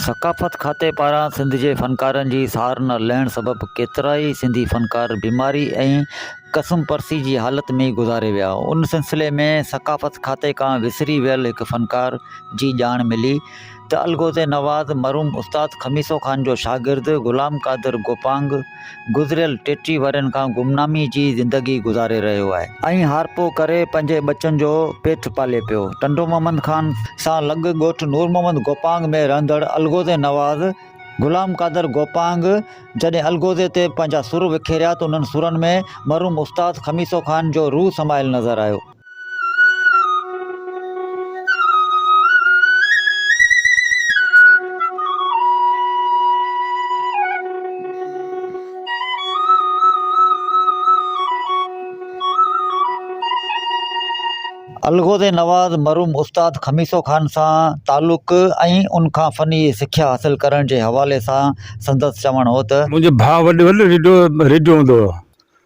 ثقافت کاتي پاران سنڌ جي فنڪارن جي سار نه لهڻ سبب ڪيترائي سنڌي فنڪار بيماري ۽ ڪسم پرسي جي حالت ۾ گذاري ويا ان سلسلي ۾ ثقافت کاتي کان وسري ويل هڪ فنڪار جي ڄاڻ ملي ته الغوزي نواز مرحوم استاد خميسو خان جو شاگرد غلام قادر گوپانگ گذريل ٽيٽيهه ورهين کان گمنامي جي زندگي گذاري رهيو آهي ۽ هارپو ڪري پنهنجي ٻچن جو پيٽ پالي پيو. ٽنڊو محمد خان سان لڳ ڳوٺ نور محمد گوپانگ ۾ رهندڙ الغوزي نواز غلام قادر گوپانگ جڏهن الغوزي تي پنهنجا سر وکيريا ته انهن سرن ۾ مرحوم استاد خميسو خان جو روح سمايل نظر آيو. الغوز نواز مرحوم استاد خميسو خان سان تعلق ۽ ان کان فني سکيا حاصل ڪرڻ جي حوالي سان سندس چوڻ هو ته. منهنجو ڀاء وڏو ريڊيو هوندو هو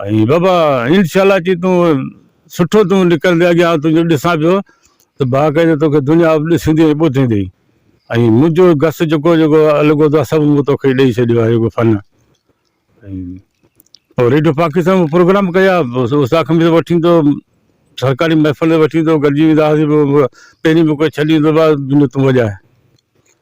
۽ بابا انشاء الله چي تون سٺو تون نڪرندي اڳيان آئون تنهنجو ڏسان پيو ته باقاعده توکي دنيا ڏسندي ۽ ٻڌندي ۽ منهنجو گس جيڪو جيڪو لڳو ٿو سڀ مون توکي ڏئي ڇڏيو آهي جيڪو فن ۽ پوء ريڊيو پاڪستان ۾ پروگرام ڪيا استاد کان به وٺي ايندو هو سرڪاري محفل وٺي ايندو هو گڏجي ويندا هئاسين پوء پهرين به ڪو ڇڏي ايندو هو بابا جو تون وڄاء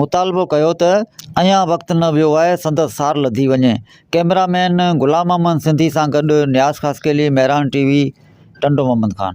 مطالبو ڪيو ته اڃان وقت نه ويو آهي سندس سار لڌي وڃي. ڪئميرا مين غلام محمد سنڌي سان گڏ نياز خاصخيلي، مهراڻ ٽي وي، ٽنڊو محمد خان.